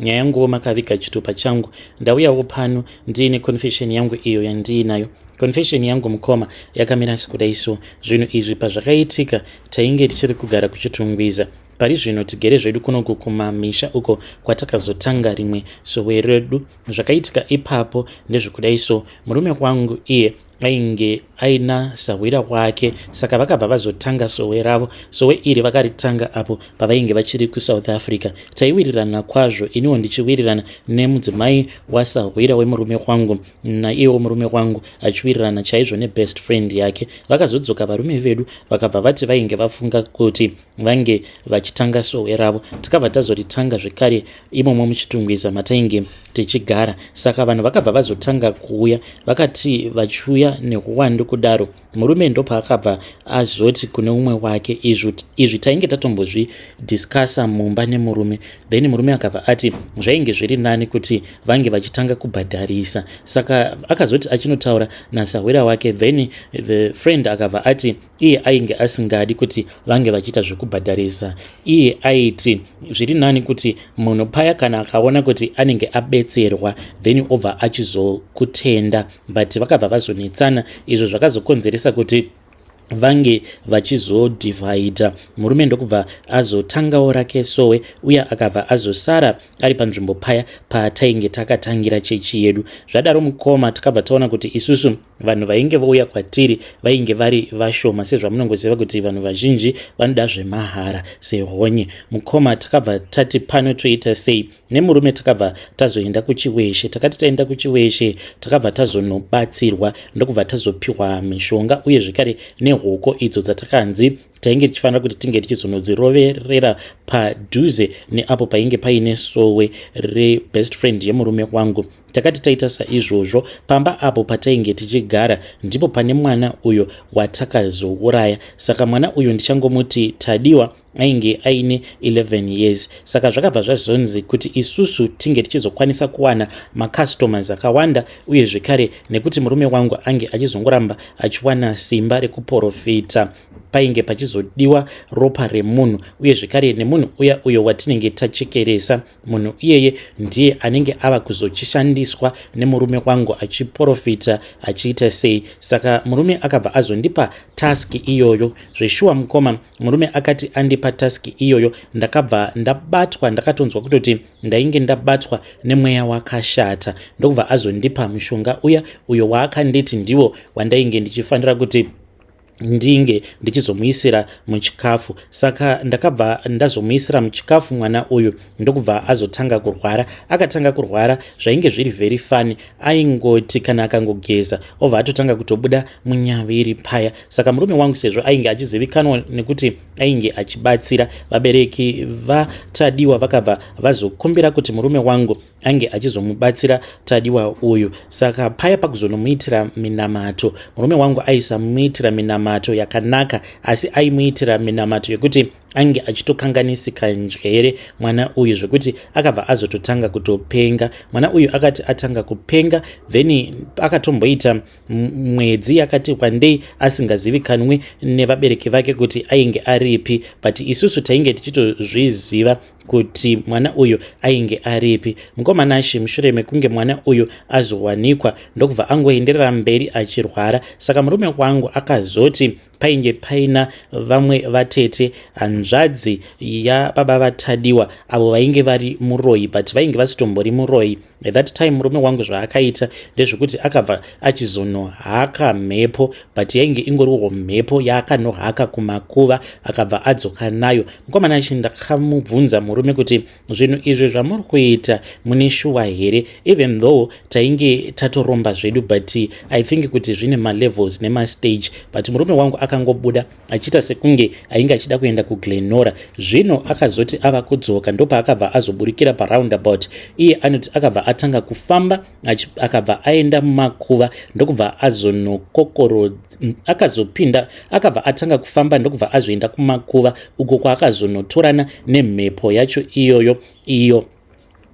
nyaya yanguwo makaviga chitupa changu ndauyawo pano ndiine confession yangu iyo yandiinayo confession yangu mukoma yakamira sikudai so zvinhu izvi pazvakaitika tainge tichiri kugara kuchitungwiza pari zvino tigere zvedu kunoku kumamisha uko kwatakazotanga rimwe sowe redu zvakaitika ipapo ndezvekudai so murume wangu iye ainge aina sahwira kwake saka vakabva vazotanga sowe ravo sowe iri vakaritanga apo pavainge vachiri kusouth africa taiwirirana kwazvo iniwo ndichiwirirana nemudzimai wasahwira wemurume wangu naiyewo murume wangu achiwirirana chaizvo nebest friend yake vakazodzoka varume vedu vakabva vati vainge vafunga kuti vange vachitanga sowe ravo tikabva tazoritanga zvekare imomo muchitungwiza matainge tichigara saka vanhu vakabva vazotanga kuuya vakati vachiuya nehuwandu kudaro murume ndopaakabva azoti kune umwe wake izvi tainge tatombozvidiscasa mumba nemurume then murume akabva ati zvainge zviri nani kuti vange vachitanga kubhadharisa saka akazoti achinotaura nasahwira wake then the friend akabva ati iye ainge asingadi kuti vange vachiita zvekubhadharisa iye aiti zviri nani kuti munhu paya kana akaona kuti anenge abetserwa then obva achizokutenda but vakabva vazonetsana izvo zvakazokonzeresa kuti vange vachizodhivhaidha murume ndokubva azotangawo rake sowe uye akabva azosara ari panzvimbo paya patainge takatangira chechi yedu zvadaro mukoma takabva taona kuti isusu vanhu vainge vouya kwatiri vainge vari vashoma sezvamunongoziva kuti vanhu vazhinji vanoda zvemahara sehonye mukoma takabva tati pano toita sei nemurume takabva tazoenda kuchiweshe takati taenda kuchiweshe takabva tazonobatsirwa ndokubva tazopiwa mishonga uye zvekare nehoko idzo dzatakanzi tainge tichifanira kuti tinge tichizonodziroverera padhuze neapo painge paine sowe rebest friend yemurume wangu Takati taita saizvozvo, pamba apo patainge tichigara ndipo pane mwana uyo watakazouraya. Saka mwana uyu ndichangomuti Tadiwa ainge aine 11 years. Saka zvakabva zvazonzi kuti isusu tinge tichizokwanisa kuwana macustomers akawanda uye zvekare nekuti murume wangu ange achizongoramba achiwana simba rekuporofita painge pachizodiwa ropa remunhu uye zvekare nemunhu uya uyo watinenge tachekeresa Munhu iyeye ndiye anenge ava kuzochishandiswa nemurume wangu achiporofita achiita sei. Saka murume akabva azondipa task iyoyo. Zveshuwa mukoma, murume akati andipa task iyoyo ndakabva ndabatwa, ndakatonzwa kutoti ndainge ndabatwa nemweya wakashata ndokubva azondipa mushonga uya uyo waakanditi ndiwo wandainge ndichifanira kuti ndinge ndichizomuisira muchikafu saka ndakabva ndazomuisira muchikafu mwana uyu ndokubva azotanga kurwara akatanga kurwara zvainge zviri very fani aingoti kana akangogeza obva atotanga kutobuda munyaviri paya saka murume wangu sezvo ainge achizivikanwa nekuti ainge achibatsira vabereki vatadiwa vakabva vazokumbira kuti murume wangu ange achizomubatsira tadiwa uyu saka paya pakuzonomuitira minamato murume wangu aisamuitira minamato yakanaka asi aimuitira minamato yekuti ange achitokanganisika njere mwana uyu zvekuti akabva azototanga kutopenga mwana uyu akati atanga kupenga then akatomboita mwedzi yakati kwandei asingazivikanwi nevabereki vake kuti ainge aripi but isusu tainge tichitozviziva kuti mwana uyu ainge aripi mukoma nashe mushure mekunge mwana uyu azowanikwa ndokubva angoenderera mberi achirwara saka murume wangu akazoti painge paina vamwe vatete hanzvadzi yababa vatadiwa avo vainge vari muroyi but vainge vasitombori muroyi By that time murume wangu zvaakaita ndezvekuti akabva achizonohaka mhepo but yainge ingoriwo mhepo yaakanohaka kumakuva akabva adzoka nayo mukomana achi ndakamubvunza murume kuti zvinhu izvi zvamuri kuita mune shuwa here even though tainge tatoromba zvedu but i think kuti zvine malevels nemastage but murume wangu akangobuda achiita sekunge ainge achida kuenda kuglenora zvino akazoti ava kudzoka ndopaakabva azoburikira paroundabout iye anoti akabva atanga kufamba akabva aenda mumakuva ndokubva azonokokoro akazopinda akabva atanga kufamba ndokubva azoenda kumakuva uko kwaakazonotorana nemhepo yacho iyoyo iyo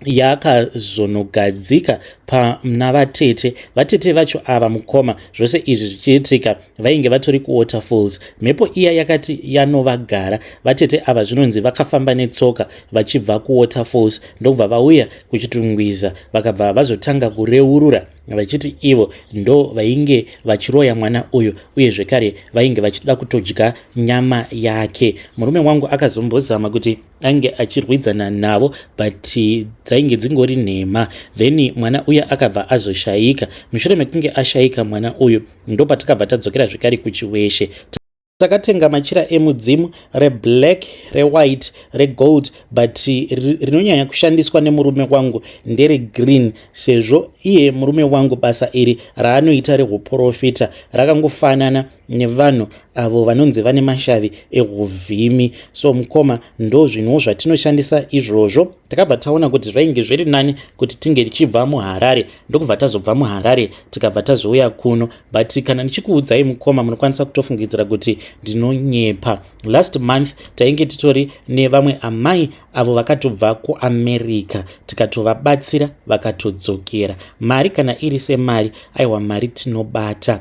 yakazonogadzika pana vatete vatete vacho ava mukoma zvose izvi zvichiitika vainge vatori kuwaterfalls mhepo iya yakati yanovagara vatete ava zvinonzi vakafamba netsoka vachibva kuwaterfalls ndokubva vauya kuchitungwiza vakabva vazotanga kureurura vachiti ivo ndo vainge vachiroya mwana uyu uye zvekare vainge vachida kutodya nyama yake murume wangu akazombozama kuti ainge achirwidzana navo but dzainge dzingori nhema then mwana uya akabva azoshayika mushure mekunge ashayika mwana uyu ndopatakabva tadzokera zvekare kuchiweshe takatenga machira emudzimu reblack rewhite regold but rinonyanya kushandiswa nemurume wangu nderegreen sezvo iye murume wangu basa iri raanoita rehuprofita rakangofanana nevanhu avo vanonzi vane mashavi ehuvhimi so mukoma ndo zvinhuwo zvatinoshandisa izvozvo takabva taona kuti zvainge zviri nani kuti tinge tichibva muharare ndokubva tazobva muharare tikabva tazouya kuno but kana ndichikuudzai mukoma munokwanisa kutofungidzira kuti ndinonyepa last month tainge titori nevamwe amai avo vakatobva kuamerica tikatovabatsira vakatodzokera mari kana iri semari aiwa mari tinobata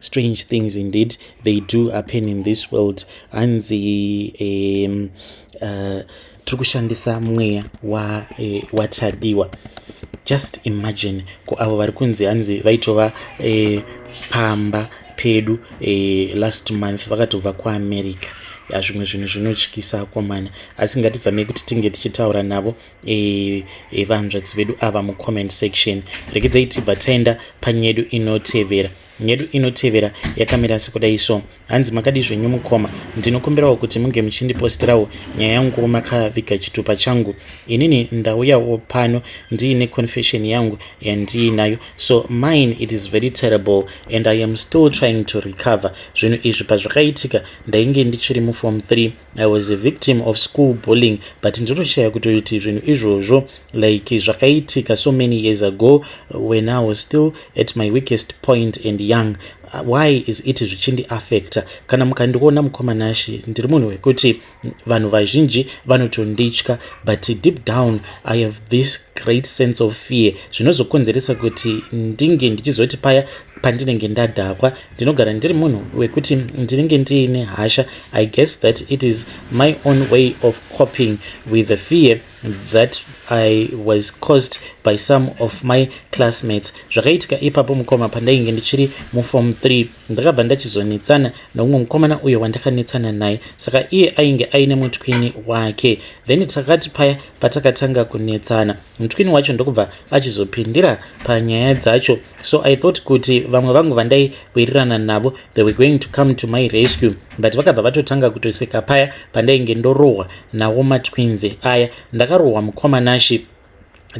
strange things indeed they do happen in this world hanzi um, uh, tiri kushandisa mweya eh, watadiwa just imagine ko avo vari kunzi hanzi vaitova eh, pamba pedu eh, last month vakatobva kuamerica zvimwe zvinhu zvinotyisa akomana asi ngatizamei kuti tinge tichitaura navo e, e, vahanzvadzi vedu ava mucomment section regedzai tibva taenda panyedu inotevera nyedu inotevera yakamira sekudai so hanzi makadi zvenyu mukoma ndinokumbirawo kuti munge muchindipostirawo nyaya yangu makaviga chitupa changu inini ndauyawo pano ndiine confession yangu yandiinayo so mine it is very terrible and i am still trying to recover zvinhu izvi pazvakaitika ndainge ndichiri mufom 3 I was a victim of school bullying but ndinoshaya kutoti zvinhu izvozvo like zvakaitika so many years ago when I was still at my weakest point and young uh, why is it zvichindi affecta kana mukandiona mukoma nashi ndiri munhu wekuti vanhu vazhinji vanotonditya but deep down i have this great sense of fear zvinozokonzeresa kuti ndinge ndichizoti paya pandinenge ndadhakwa ndinogara ndiri munhu wekuti ndinenge ndiine hasha i guess that it is my own way of coping with the fear that i was caused by some of my classmates zvakaitika ipapo mukoma pandainge ndichiri muform 3 ndakabva ndachizonetsana noumwe mukomana uyo wandakanetsana naye saka iye ainge aine mutwini wake then takati paya patakatanga kunetsana mutwini wacho ndokubva achizopindira panyaya dzacho so i thought kuti vamwe vangu vandai wirirana navo they were going to come to my rescue but vakabva vatotanga kutoseka paya pandainge ndorohwa nawo matwinzi aya ndakarohwa mukoma nashi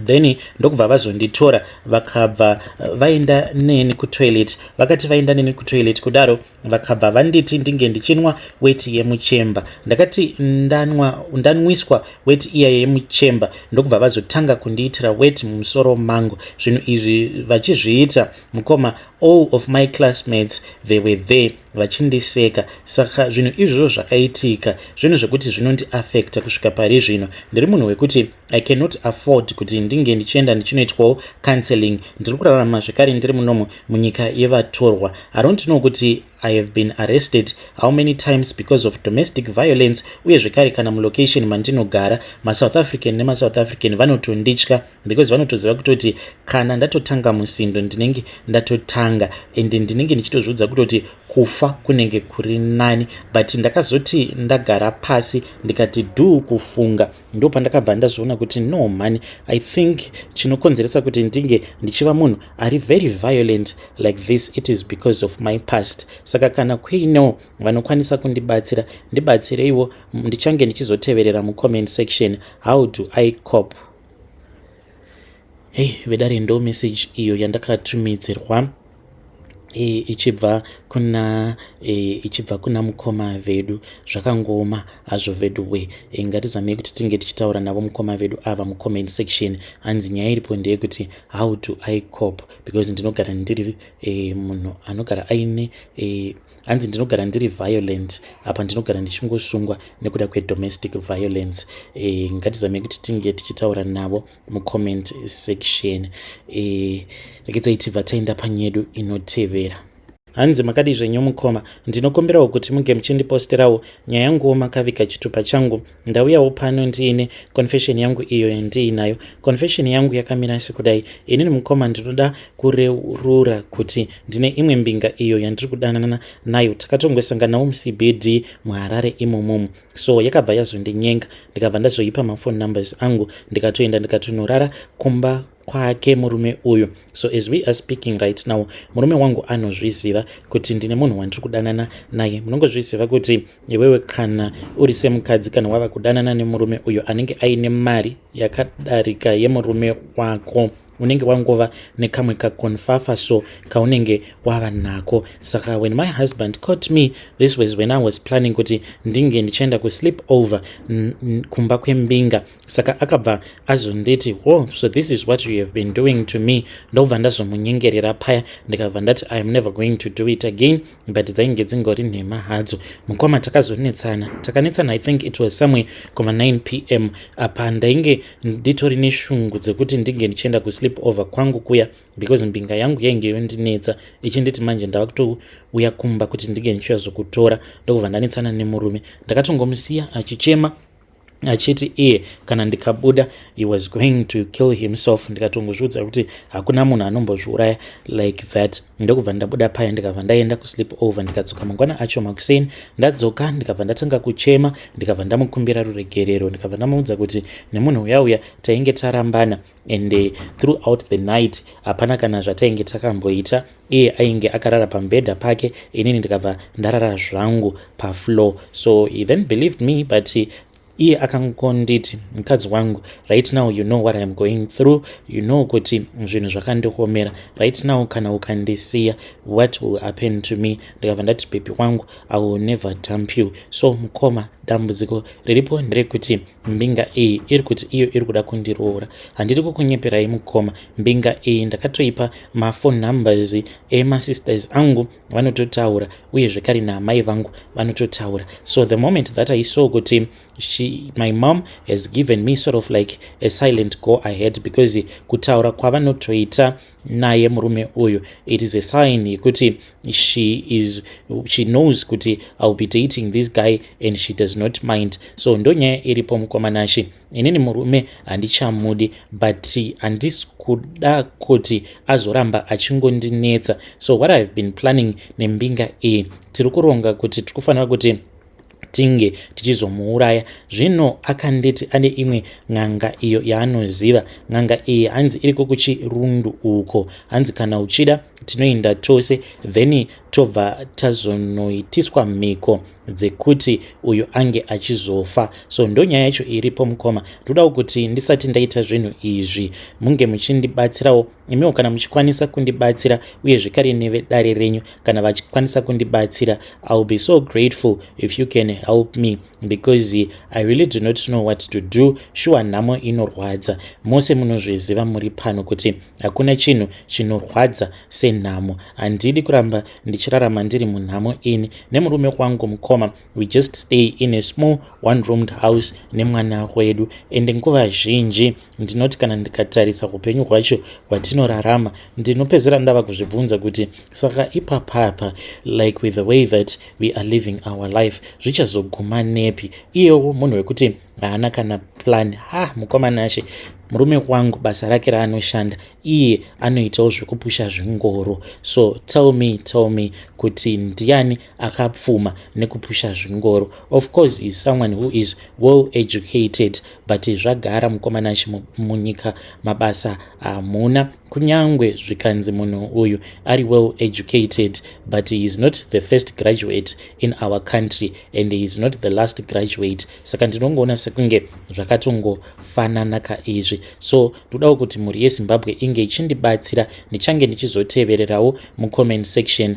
then ndokubva vazonditora vakabva eh, vaenda neni kutoilet vakati vaenda neni kutoilet kudaro vakabva vanditi ndinge ndichinwa weti yemuchemba ndakati ndanwa ndanwiswa weti iya yemuchemba ndokubva vazotanga kundiitira weti mumusoro mangu zvinhu izvi vachizviita mukoma all of my classmates they were there vachindiseka saka zvinhu izvozvo zvakaitika zvinhu zvekuti zvinondiafecta kusvika pari zvino ndiri munhu wekuti i cannot afford kuti ndinge ndichienda ndichinoitwawo counseling ndiri kurarama zvekare ndiri munomo munyika yevatorwa i don't know kuti i have been arrested how many times because of domestic violence uye zvekare kana mulocation mandinogara masouth african nemasouth african vanotonditya because vanotoziva kutoti kana ndatotanga musindo ndinenge ndatotanga and ndinenge ndichitozviudza kutoti kufa kunenge kuri nani but ndakazoti ndagara pasi ndikati duu kufunga ndo pandakabva ndazoona kuti no mhani i think chinokonzeresa kuti ndinge ndichiva munhu ari very violent like this it is because of my past saka kana kuinewo vanokwanisa kundibatsira ndibatsireiwo ndichange ndichizoteverera mucomment section how do i cop hei vedare ndo message iyo yandakatumidzirwa e, ichibva kuna e, ichibva kuna mukoma vedu zvakangooma hazvo vedu we e, ngatizamei kuti tinge tichitaura navo mukoma vedu ava mucomment section hanzi nyaya iripo ndeyekuti how do i cop because ndinogara ndiri e, munhu anogara aine e, hanzi ndinogara ndiri violent apa ndinogara ndichingosungwa nekuda kwedomestic violence e, ngatizamei kuti tinge tichitaura navo mucomment section e, rekedzai tibva taenda panyedu inotevera hanzi makadii zvenyu mukoma ndinokumbirawo kuti muge muchindipostirawo nyaya yanguwo makavika chitupa changu ndauyawo pano ndiine confession yangu iyo yandiinayo confession yangu yakamira sekudai inini mukoma ndinoda kureurura kuti ndine imwe mbinga iyo yandiri kudanana nayo takatongosanganawo mucbd muharare imomomo so yakabva yazondinyenga ndikabva ndazoipa mafone numbers angu ndikatoenda ndikatonorara kumba kwake murume uyu so as we are speaking right now murume wangu anozviziva kuti ndine munhu wandiri kudanana naye munongozviziva kuti iwewe kana uri semukadzi kana wava kudanana nemurume uyo anenge aine mari yakadarika yemurume wako unenge wangova nekamwe kakonfafa so kaunenge wava nako saka when my husband caught me this was when i was planning kuti ndinge ndichienda kusleep over kumba kwembinga saka akabva azonditi wo oh, so this is what you have been doing to me ndobva ndazomunyengerera paya ndikabva ndati i am never going to do it again but dzainge dzingori nhema hadzo mukoma takazonetsana takanetsana i think it was somewhere kuma 9 p m apa ndainge nditori neshungu dzekuti ndinge ndichienda kusleep over kwangu kuya because mbinga yangu yainge yondinetsa ichinditi manje ndava kutouya kumba kuti ndinge ndichiyazokutora ndokubva ndanetsana nemurume ndakatongomusiya achichema achiti iye kana ndikabuda he was going to kill himself ndikatongozviudza kuti hakuna munhu anombozviuraya like that ndokubva ndabuda paya ndikabva ndaenda kusleep over ndikadzoka mangwana acho makuseni ndadzoka ndikabva ndatanga kuchema ndikabva ndamukumbira ruregerero ndikabva ndamuudza kuti nemunhu uyauya tainge tarambana and uh, throughout the night hapana kana zvatainge takamboita iye ainge akarara pamubhedha pake inini ndikabva ndarara zvangu pafloor so he then believed me but he, iye akangonditi mukadzi wangu right now you know what iam going through you know kuti zvinhu zvakandikomera right now kana ukandisiya what will happen to me ndikabva ndati bebi wangu i will never dump you so mukoma dambudziko riripo nderekuti mbinga iyi iri kuti iyo iri kuda kundiroora handiri kukunyeperai mukoma mbinga iyi ndakatoipa mafone numbers emasisters angu vanototaura uye zvekare naamai vangu vanototaura so the moment that i saw kuti she my mom has given me sort of like a silent go ahead because kutaura kwavanotoita naye murume uyu it is a sign yekuti she is she knows kuti iwill be dating this guy and she does not mind so ndonyaya iripo mukomanashi inini murume handichamudi but handisi kuda kuti azoramba achingondinetsa so what ihave been planning nembinga iyi tiri kuronga kuti tiri kufanira kuti tinge tichizomuuraya zvino akanditi ane imwe n'anga iyo yaanoziva n'anga iyi hanzi iriko kuchirundu uko hanzi kana uchida tinoenda tose then tobva tazonoitiswa mhiko dzekuti uyu ange achizofa so ndonyaya yacho iripo mukoma ndodawo kuti ndisati ndaita zvinhu izvi munge muchindibatsirawo imiwo kana muchikwanisa kundibatsira uye zvekare nevedare renyu kana vachikwanisa kundibatsira iwill be so grateful if you can help me because i really do not know what to do shuwa nhamo inorwadza mose munozviziva muri pano kuti hakuna chinhu chinorwadza senhamo handidi kuramba ndichirarama ndiri munhamo ini nemurume wangu mukoma we just stay in a small one roomed house nemwana wedu ende nguva zhinji ndinoti kana ndikatarisa upenyu hwacho hwatinorarama ndinopedzera ndava kuzvibvunza kuti saka ipapapa like with the way that we are living our life zvichazoguma nepi iyewo munhu wekuti haana kana plan ha mukoma nashe murume wangu basa rake raanoshanda iye anoitawo zvekupusha zvingoro so tell me tell me kuti ndiani akapfuma nekupusha zvingoro of course is someone who is well educated but zvagara mukomana chimunyika mabasa hamuna kunyangwe zvikanzi munhu uyu ari well educated but he is not the first graduate in our country and he is not the last graduate saka ndinongoona sekunge zvakatongofanana ka izvi so ndodawo kuti mhuri yezimbabwe inge ichindibatsira ndichange ndichizotevererawo mucomment section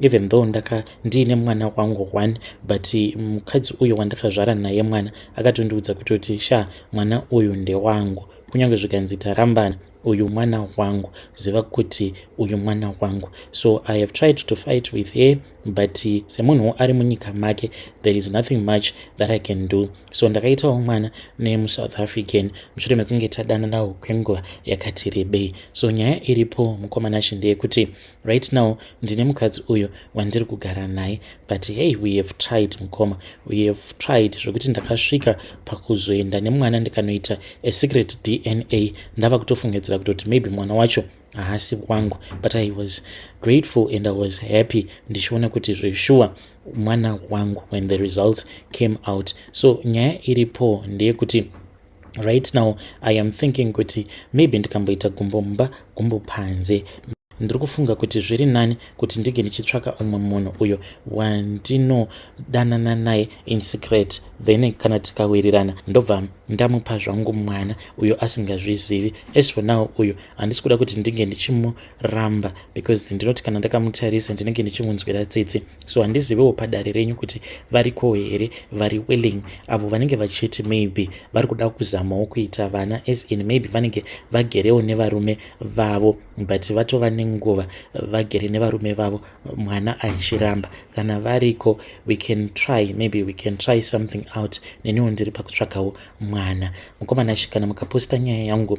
even though ndaka ndiine mwana wangu one but mukadzi uyo wandakazvara naye mwana akatondiudza kutoti sha mwana uyu ndewangu kunyange zvikanzi tarambana uyu mwana wangu ziva kuti uyu mwana wangu so i have tried to fight with her but semunhu ari munyika make there is nothing much that i can do so ndakaitawo mwana nemusouth african mushure mekunge tadananawo kwenguva yakati rebei so nyaya iripo mukomana shi ndeyekuti Right now ndine mukadzi uyo wandiri kugara naye but hey we have tried mukoma we have tried zvekuti ndakasvika pakuzoenda nemwana ndikanoita a secret dna ndava kutofungidzira kutoti maybe mwana wacho haasi wangu but i was grateful and i was happy ndichiona kuti zveshuwa mwana wangu when the results came out so nyaya iripo ndeyekuti right now i am thinking kuti maybe ndikamboita gumbo mumba gumbo panze ndiri kufunga kuti zviri nani kuti ndinge ndichitsvaka umwe munhu uyo wandinodanana naye in secret then kana tikawirirana ndobva ndamupa zvangu mwana uyo asingazvizivi as for now uyo handisi kuda kuti ndinge ndichimu ramba because ndinoti kana ndakamutarisa ndinenge ndichimunzwira tsitsi so handizivewo padare renyu kuti variko here vari willing avo vanenge vachiti maybe vari kuda kuzamawo kuita vana as in maybe vanenge vagerewo nevarume vavo but vatova nenguva vagere nevarume vavo mwana achiramba kana variko we can try maybe we can try something out neniwo ndiri pakutsvagawo mwana mukomana shi kana mukaposta nyaya yangu